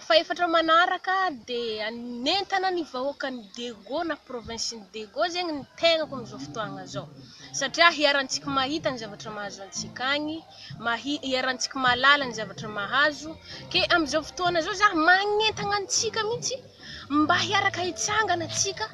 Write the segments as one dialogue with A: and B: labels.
A: Fahefatra manaraka dia nentina ny vahoakan'i Dego na provinsin'i Dego zegny ny tegnako amin'izao fotoagna zao satria hiharantsika mahita ny zavatra mahazo antsika agny, hiharantsika mahalala ny zavatra mahazo ke amin'izao fotoagna zao za magnentagna antsika mihitsy mba hiaraka hitsangana antsika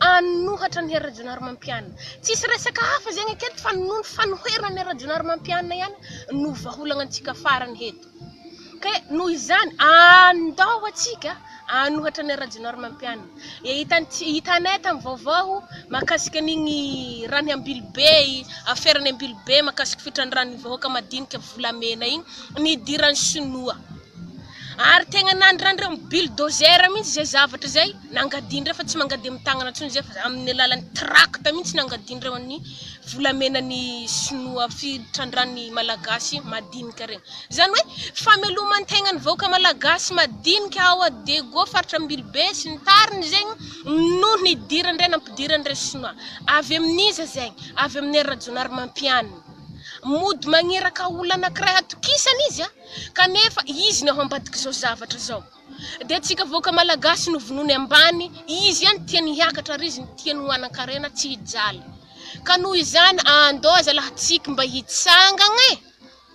A: hanohatra an'i Rajaonarimampianina. Tsisy resaka hafa zegny aketo fa noho ny fanoherana an'i Rajaonarimampianina ihany no vahaolagna antsika farany eto. Ka noho izany, andao antsika hanohatra an'i Rajaonarimampianina. Hitantsika, hitanay tamin'ny vaovao mahakasika an'igny raha ny Ambilobe, afera ny Ambilobe mahakasika fitrandrahan'ny vahoaka madinika volamena igny nidiran'ny sinoa. Ary tegna nandrandrainy bulldozer mihitsy izay zavatra izay. Nangadin-dra fa tsy mangadia amin'ny tagnana intsony izy fa amin'ny alalan'ny trakta mihitsy nangadin-dra ho an'ny volamenan'ny sinoa fitrandrahan'ny malagasy madinika ireny. Izany hoe fameloman-tegna ny vahoaka malagasy madinika ao a Dego faritra Ambilobe sy ny tariny zegny noho ny hidiran-dra nampidiran-dra sinoa. Avy amin'iza zegny? Avy amin'i Rajaonarimampianina. Mody magneraka olona anankiray hatokisany izy a! Kanefa izy no ao ambadik'izao zavatra izao. Dia tsika vahoaka malagasy no vonoiny ambany izy any tiany hiakatra ary izy no tiany ho hanankarena tsy hijaly ka noho izany andao zalahatsik mba hitsangagna e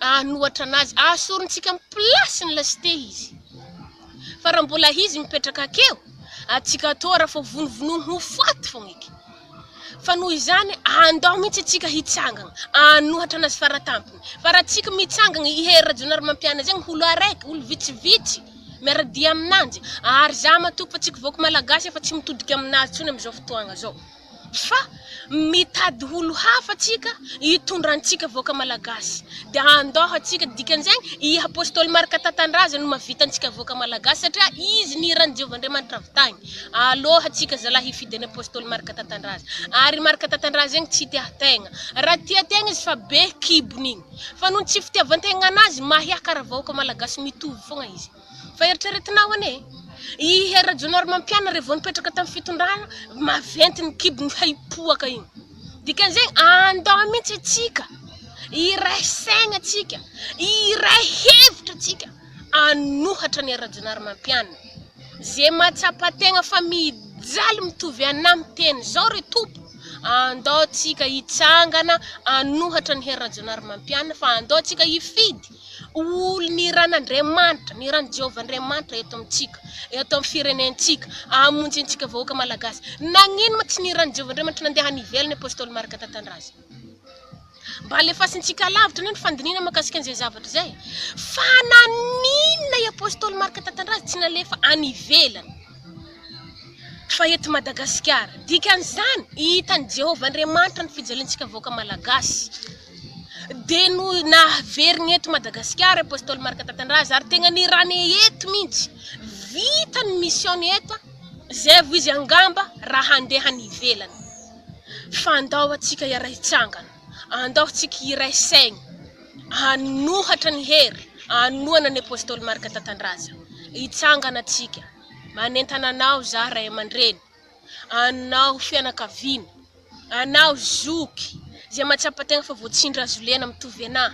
A: ahanohatra anazy ahasorintsika am place ny leste izy fa raha mbola izy mipetraka akeo atsika atao raha fa vonovonoiny ho faty fogna eky Fa noho izany, andao mihitsy isika hitsangana, hanohatra anazy faratampony. Fa raha tsika mitsangana, i Hery Rajaonarimampianina zegny holo araiky, olo vitsivitsy miara-dia aminanjy. Ary za matoky fa tsika vahoaka Malagasy efa tsy mitodika aminazy intsony amizao fotoagna zao. Fa mitady holo hafa tsika hitondra antsika vahoaka Malagasy. De andao atsika, dikan'izegny, i Apostoly Marc Tatandrazagny no mahavita antsika vahoaka Malagasy satria izy nihiran'i Jehovah Andriamanitra avy tagny. Alou hatsika zalahy hifidy an'i Apostoly Marc Tatandraza, ary i Marc Tatandraza igny tsy tia tegna, raha tia tegna izy fa be kibony igny, fa noho ny tsy fitiavantegna anazy mahia kara vahoaka malagasy mitovy fogna izy, fa eritreretinao anie e, i Hery Rajaonarimampianary vao nipetraka tam fitondrana maventy ny kibony fa hipoaka igny, dikan'izegny andao mintsy atsika hiray saigna atsika, hiray hevitra atsika. An'ohatra ny Rajaonarimampianina, ze mahatsapa tegna fa mijaly mitovy anam teny zao re Tompo andao tsika hitsangana an'ohatra ny Hery Rajaonarimampianina fa andao tsika hifidy olo ny ran'Andriamanitra ny ran'i Jehovah Andriamanitra eto amintsika eto am firenentsika amonjy antsika vahoaka Malagasy nagnino ma tsy ny ran'i Jehovah Andriamanitra nandeha any ivelany Apostoly Marc Tatandraza Mba alefasintsika alavitra anie ny fandinihana mahakasika an'izay zavatra izay. Fa naninona i Apostoly Marka tantara azy tsy nalefa any ivelany fa eto Madagasikara? Dikan'izany, hitan'i Jehovah Andriamanitra ny fijaliantsika vahoaka malagasy. Dia no naveriny eto Madagasikara i Apostoly Marka tantara azy ary tegna nirany eto mihitsy. Vita ny mission-ny eto, zay vao izy angamba raha handeha any ivelany. fa andao antsika hiaray hitsangana, andao antsika hiray saigny hanohatra ny hery anohana ny Apostoly Marc Tatandraza, hitsangana antsika, manentana anao za ray aman-dreny, anao fianakaviana, anao zoky izay mahatsapa tegna fa voatsindry hazolena mitovy anah.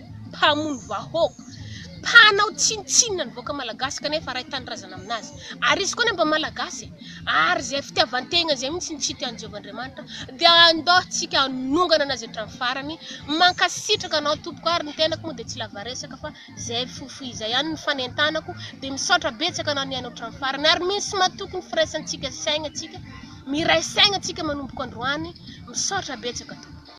A: mpamono vahoaka, mpanao tsinontsinona ny vahoaka malagasy kanefa ray tanindrazana aminazy. Ary izy koa anefa mba malagasy e! ary izay fitiavan-tegna izay mihitsy no tsy tian'i Jehovah Andriamanitra, dia andao tsika hanongana anazy hatramin'ny farany. Mankasitraka anao tompoko ary ny tenako moa dia tsy lava resaka fa izay fofo izay ihany no fanentanako, dia misaotra betsaka anao nihaino hatramin'ny farany ary misy matoky ny firaisantsika saigna tsika, miray saigna tsika manomboka androany, misaotra betsaka tompoko.